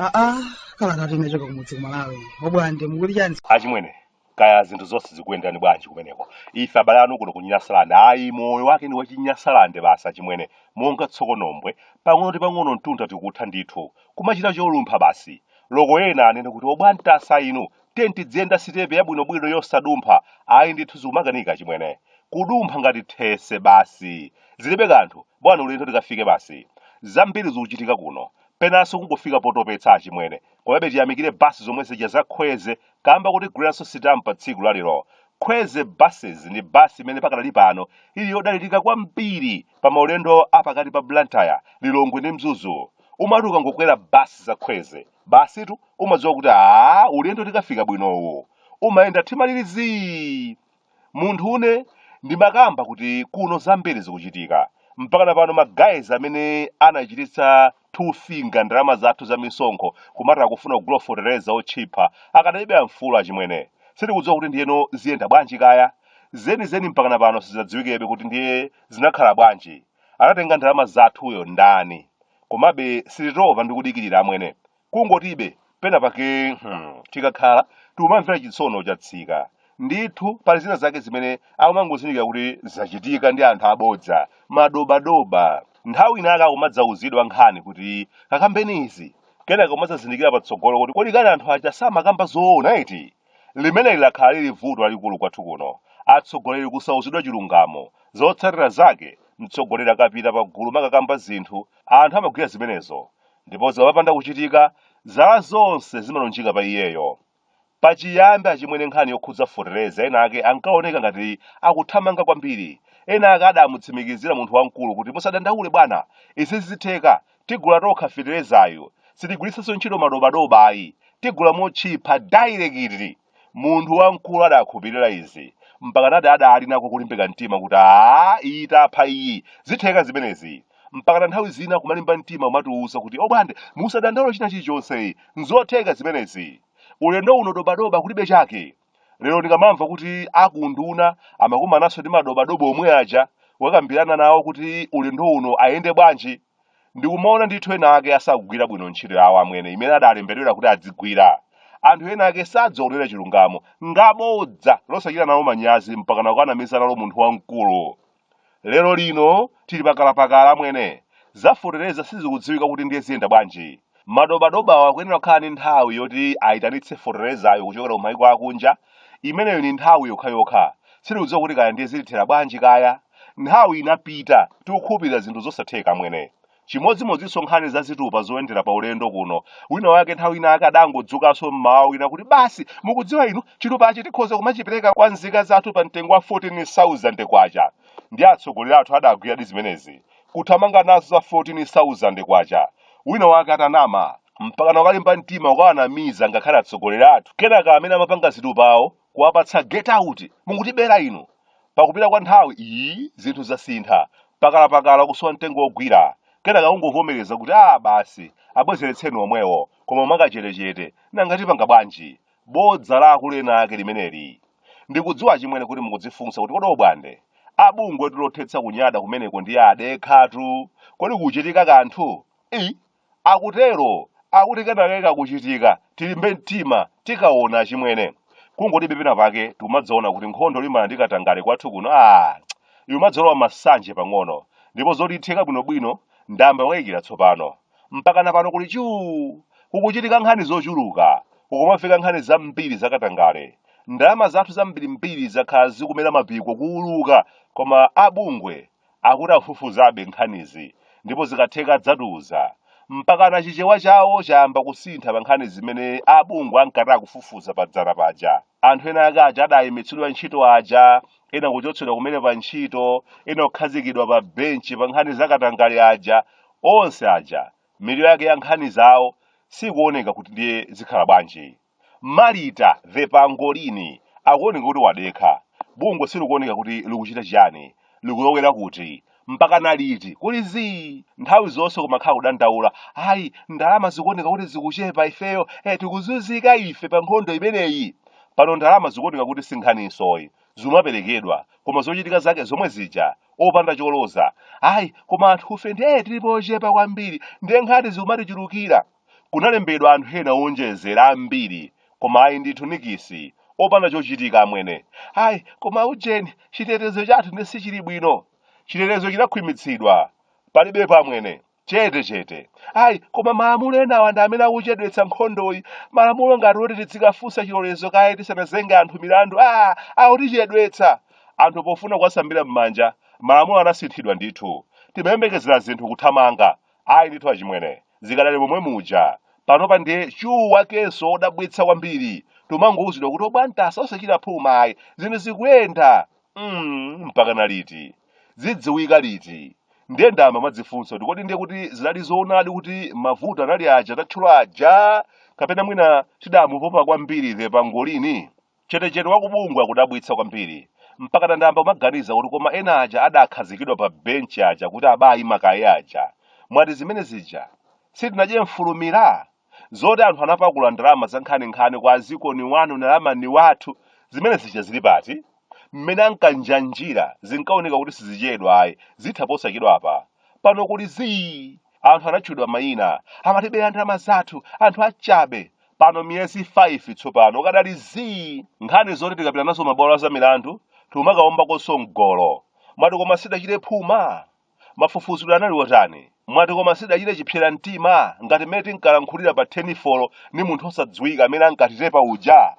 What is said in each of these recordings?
aa kala kati nachoka kumudzi kumalawi obwande mukuti chani achimwene kaya zinthu zonse zikuyenderani bwanji kumeneko ife abale anu kuno ku nyasalande ayi moyo wake ndi wachinyasalande basi achimwene monga tsokonombwe pang'ono ndi pang'ono mtunda tikutha ndithu kumachita cholumpha basi loko ena anene kuti obwande inu tenti dziyenda sitepe yabwinobwino yosadumpha ayi ndithu zikumakanika achimwene kudumpha ngati these basi zilibe kanthu bwana ulendo tikafike basi zambiri zikuchitika kuno penanso kungofika potopetsa achimwene komabe tiyamikire basi zomwe zija zakhweze kamba koti gwiranso sitam pa tsiku la lero khweze buses ndi basi imene pakadali pano ili yodalirika kwambiri pa maulendo a pakati pa blantyre lilongwe ndi mzuzu umati ukangokwera basi za khweze basitu umadziwa kuti aa ulendo tikafika bwinowu umayenda mtima uli zii munthu une ndimakamba kuti kuno zambiri zikuchitika mpakana pano maguys amene anachititsa two finger ndalama zathu za misonkho kumati akufuna kugula fotereza otchipa akadalibe amfulu achimwene sitikudziwa kuti ndiyeno ziyenda bwanji kaya zenizeni mpakana pano sizinadziwikebe kuti ndiye zinakhala bwanji anatenga ndalama zathuyo ndani komabe sititopa ndi kudikirira amwene kungoti be pena pake hmm, tikakhala tikumamvera chitsono chatsika ndithu pali zina zake zimene akumangozindikira kuti zachitika ndi anthu abodza madobadoba nthawi ina akumadzauzidwa nkhani kuti kakambeni izi kenaka kumadzazindikira patsogolo kuti kodi kani anthu aja samakamba zoona eti limene lakhala lili vuto lalikulu kwathu kuno atsogoleri kusauzidwa chilungamo zotsatira zake mtsogoleri akapita pagulu makakamba zinthu anthu amagwira zimenezo ndipo zikapanda kuchitika zala zonse zimalunjika pa iyeyo pachiyambi achimwene nkhani yokhudza fotereza ena ake ankaoneka ngati akuthamanga kwambiri ena ake adamutsimikizira munthu wamkulu kuti musadandaule bwana izi zitheka tigula tokha feterezayu sitigwiritsanso ntchito madobadoba ayi tigula motchipa dairekiti munthu wamkulu adakhulupirira izi mpakana adali nako kulimbika mtima kuti aa iyi tapha iyi zitheka zimenezi mpakana nthawi zina kumalimba mtima kumatiuza kuti obwande musadandaule china chilichonse nzotheka zimenezi ulendo uno dobadoba kulibe chake lero ndikamamva kuti akunduna amakumananso ndi madobadoba omwe aja kukambirana nawo kuti ulendo uno ayende bwanji ndikumaona ndithu ena ake sakugwira bwino ntchito yawo amwene imene adalembedwera kuti adzigwira anthu ena ake sadziwa kunena chilungamo ngabodza osachita nalo manyazi mpakana kukanamiza nalo munthu wamkulu lero lino tili pakalapakala amwene zafotereza sizikudziwika kuti ndiye ziyenda bwanji Madobadobawa akuyenera kukhala ndi nthawi yoti ayitanitse foterezayo kuchokera ku maiko akunja. Imeneyo ndi nthawi yokhayokha. Sitikudziwa kuti kaya ndiye zitithera bwanji kaya. Nthawi inapita, tikukhulupirira zinthu zosatheka amwene. Chimodzimodzinso nkhani za zitupa zoyendera pa ulendo kuno. Wina wake nthawi ina ake adangodzukanso mmawa wina kuti basi, mukudziwa inu, chitupachi tikhoza kumachipereka kwa nzika zathu pa mtengo wa 14,000 kwacha. Ndiye atsogoleri athu adagwiradi zimenezi. kuthamanga nazo za 14,000 kwacha wina wake atanama mpakana wakalimba mtima kukawanamiza ngakhale atsogoleri athu kenaka amene amapanga zitupawo kuwapatsa get out mukutibera inu pakupita kwa nthawi iyi zinthu zasintha pakalapakala kusowa mtengo wogwira kenaka kungovomereza kuti a basi abwezeretseni omwewo koma mwakachetechete nanga tipanga bwanji bodza la akulu ena ake limeneli ndikudziwa achimwene kuti mukudzifunsa kuti kodi obwande abungwe lothetsa kunyada kumeneko ndiye adekhatu kodi kuchitika kanthu i akutero akuti kenakake kakuchitika tilimbe mtima tikaona achimwene kungoti pena pake tikumadzaona kuti nkhondo yolimbana ndi katangale kwathu kuno a ikumadzalowa masanje pang'ono ndipo zoti itheka bwinobwino ndayamba kukayikira tsopano Mpakana pano kuli chuu! Kukuchitika nkhani zochuluka, kukumamveka nkhani zambiri zakatangale. Ndalama zathu zambirimbiri zakhala zikumera mapiko kuuluka koma a bungwe akuti akufufuzabe nkhanizi ndipo zikatheka adzatiuza. Mpakana Chichewa chawo chayamba kusintha pa nkhani zimene a bungwe ankati akufufuza padzana paja. Anthu ena ake aja adayimitsidwa ntchito aja, ena kuchotsedwa kumene pa ntchito, ena kukhazikidwa pa benchi pa nkhani za katangale aja, onse aja mwiliro wake ya nkhani zawo sikuoneka kuti ndiye zikhala bwanji. Marita the pangolini akuoneka kuti wadekha. Bungwe silikuoneka kuti likuchita chiyani. likulowera kuti mpaka naliti kuli zii nthawi zonse kumakhala kudandaula ayi ndalama zikuoneka kuti zikuchepa ifeyo eh, tikuzunzika ife pa nkhondo imeneyi pano ndalama zikuoneka kuti si nkhaninso ayi zimaperekedwa koma zochitika zake zomwe zija opanda choloza ayi koma anthufe ndiye tilipo ochepa kwambiri ndiye nkhani zikumatichulukira Kunalembedwa anthu ena owonjezera ambiri, koma ayi ndithu nikisi, opanda chochitika amwene. Ayi, koma ujeni, chitetezo chathu ndi sichili bwino. Chitetezo chinakhwimitsidwa. Palibepo amwene. Chete chete. Ayi, koma malamulo enawa ndi amene akuchedwetsa nkhondoyi. Malamulo ngati oti tidzikafunsa chilolezo kaye tisanazenge anthu milandu. Ah, akutichedwetsa. Anthu pofuna kuwasambira m'manja, malamulo anasinthidwa ndithu. Timayembekezera zinthu kuthamanga. ayi ndithu achimwene zikadali momwe muja panopa ndiye chuwu wakenso odabwitsa kwambiri timangowuzidwa kuti obwantasa osachita phuma ayi zinthu zikuyenda mm, mpaka na liti zidziwika liti ndiye ndamba madzifunsa kuti kodi ndiye kuti zinali zoonadi kuti mavuto anali aja tatchula aja kapena mwina tidamupopa kwambiri the pangolini Chetechete wa kubungwe akudabwitsa kwambiri. Mpakana ndayamba kumaganiza kuti koma ena aja adakhazikidwa pa bench aja kuti abayima kaye aja. Mwati zimene zija? Sitinadye mfulumira? Zoti anthu anapakula ndalama zankhaninkhani kwa azikoni wanu nalamani wathu, zimene zija zili pati? Mmene ankanjanjira zinkaoneka kuti sizichedwa ayi, zitha posachedwapa. Pano kuli zii! Anthu anatchulidwa mayina, amatibera ndalama zathu, anthu achabe. pano miyezi 5 tsopano kukadali zii nkhani zoti tikapita nazo mabwalo azamilandu tikumakaombakonso mgolo mwati koma sidachite phuma mafufuzidwe anali otani mwati koma sidachite chipsera mtima ngati mmene tinkalankhulira pa tenifolo ni munthu osadziwika amene ankatitepa uja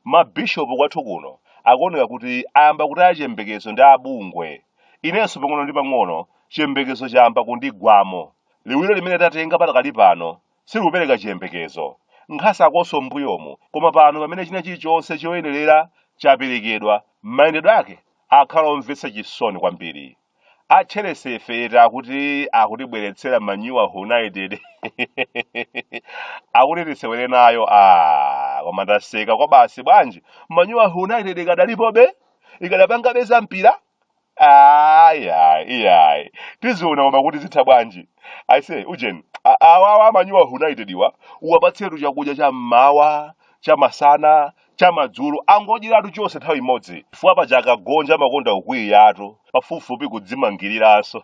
mabishopu kwathu kuno akuoneka kuti ayamba kutaya chiyembekezo ndi abungwe inenso pang'ono ndi pang'ono chiyembekezo chayamba kundigwamo liwiro limene tatenga patakali pano Sikupereka chiyembekezo. Nkhasakonso m'mbuyomu, koma pano pamene china chilichonse choyenerera chaperekedwa, mayendedwe ake akhala omvetsa chisoni kwambiri. A Chelese ife eti akuti akutibweretsera Manyuwa United. akuti tisewere nayo ah, koma ndaseka kwabasi bwanji? Manyuwa United ikadalipobe? Ikadapangabe zampira? ayi ayi iyayi tiziona koma kuti zitha bwanji aise ujeni a- awawa amanyuwa united iwa uwapatsetu chakudya cha mmawa cha masana cha madzulo angodyeratu chonse nthawi imodzi chifukwa paja akagonja amakonda ukwiyatu pafupifupi kudzimangiriranso